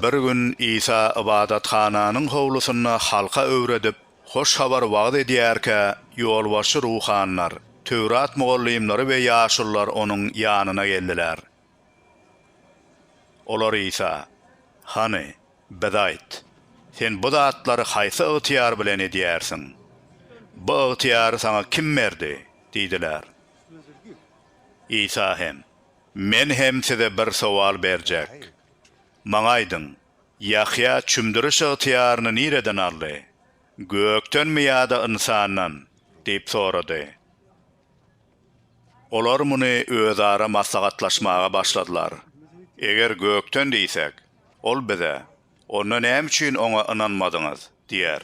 Bir gün Isa ybadathananyň howlusynda halka öwredip, Hoş Habary wagyz edýärkä, ýolbaşçy ruhanylar, Töwrat mugallymlary we ýaşulular onuň ýanyna geldiler. Olar Isa, Hany, bize aýt, Sen bu zatlary haýsy ygtyýar bilen edýärsiň? Bu ygtyýary saňa kim berdi? diýdiler. Isa hem, Men hem size bir sowal berjek. Maňa aýdyň, Ýahýa çümdüriş ygtyýaryny nireden aldy? Gökdenmi ýa-da ynsandan? diýip sorady. Olar muny özara maslahatlaşmaga başladylar. Eger gökden diýsek, Ol bize, Onda näme üçin Oňa ynanmadyňyz? diýer.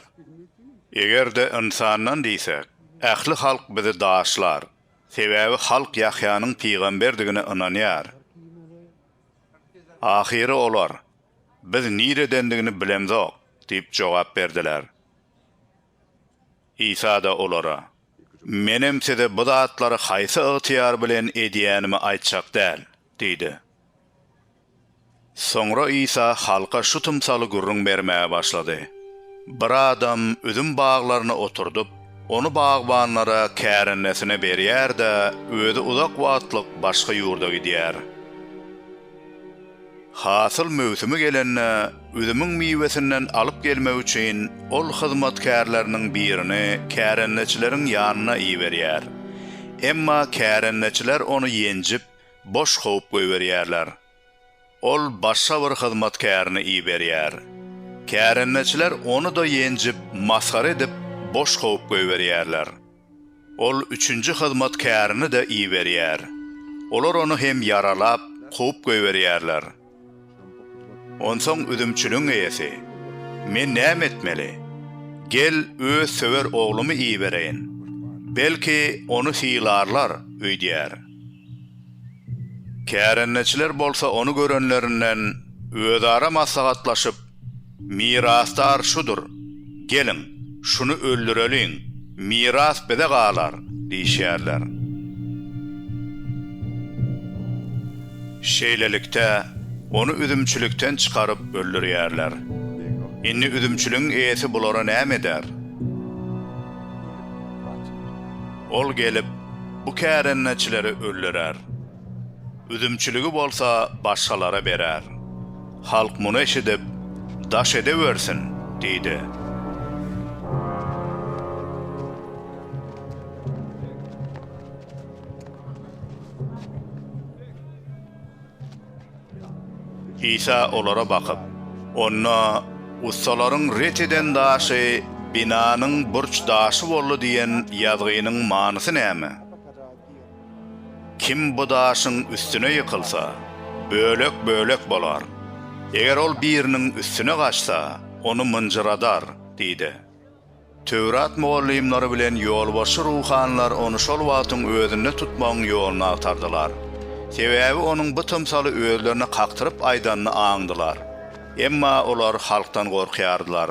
Eger-de ynsandan diýsek, ähli halk bizi daşlar, sebäbi halk Ýahýanyň pygamberdigine ynanýar. Ahyry olar, Biz niredendigini bilemzok diýip jogap berdiler. Isa-da olara, Menem size bu zatlary haýsy ygtyýar bilen edýänimi aýtjak däl diýdi. Soňra Isa halka şu tymsaly gürrüň bermäge başlady, Bir adam üzüm baglaryny oturdyp, ony bagbanlara kärendesine berýär-de, özi uzak wagtlyk başga ýurda gidýär. Hasyl möwsümi gelende, üzümiň miwesinden alyp gelmek üçin ol hyzmatkärleriniň birini kärendeçileriň ýanyna iberýär. Emma kärendeçiler ony ýenjip, boş kowup goýberýärler. Ol başga bir hyzmatkärini iberýär. Kärendeçiler ony-da ýenjip, masgara edip, boş kowup goýberýärler. Ol üçünji hyzmatkärini-de iberýär. Olar ony hem ýaralap, kowup goýberýärler. Onsoň üzümçiligiň eýesi, Men näme etmeli? Gel, öz söwer oglumy ibereýin. Belki, ony sylarlar öýdýär. Kärendeçiler bolsa ony görenlerinden, özara maslahatlaşyp, Mirasdar şudur, geliň, şuny öldüreliň, miras bize galar! diýişýärler. Şeýlelikde, ony üzümçilikden çykaryp öldürýärler. Indi üzümçiligiň eýesi bulara näme eder? Ol gelip, bu kärendeçileri öldürer. Üzümçiligi bolsa başgalara berer. Halk muny eşidip, Daş edewersin! diýdi. Isa olara bakyp, Onda ussalaryň ret eden daşy binanyň burç daşy boldy diýen ýazgynyň manysy näme? Kim bu daşyň üstüne ýykylsa, bölek-bölek bolar. Eger ol biriniň üstüne gaçsa, ony mynjyradar diýdi. Töwrat mugallymlary bilen ýolbaşçy ruhanylar ony şol wagtyň özünde tutmagyň ýoluny agtardylar. Sebäbi onuň bu tymsaly özlerine kakdyryp aýdanyny aňdylar. Emma olar halkdan gorkýardylar.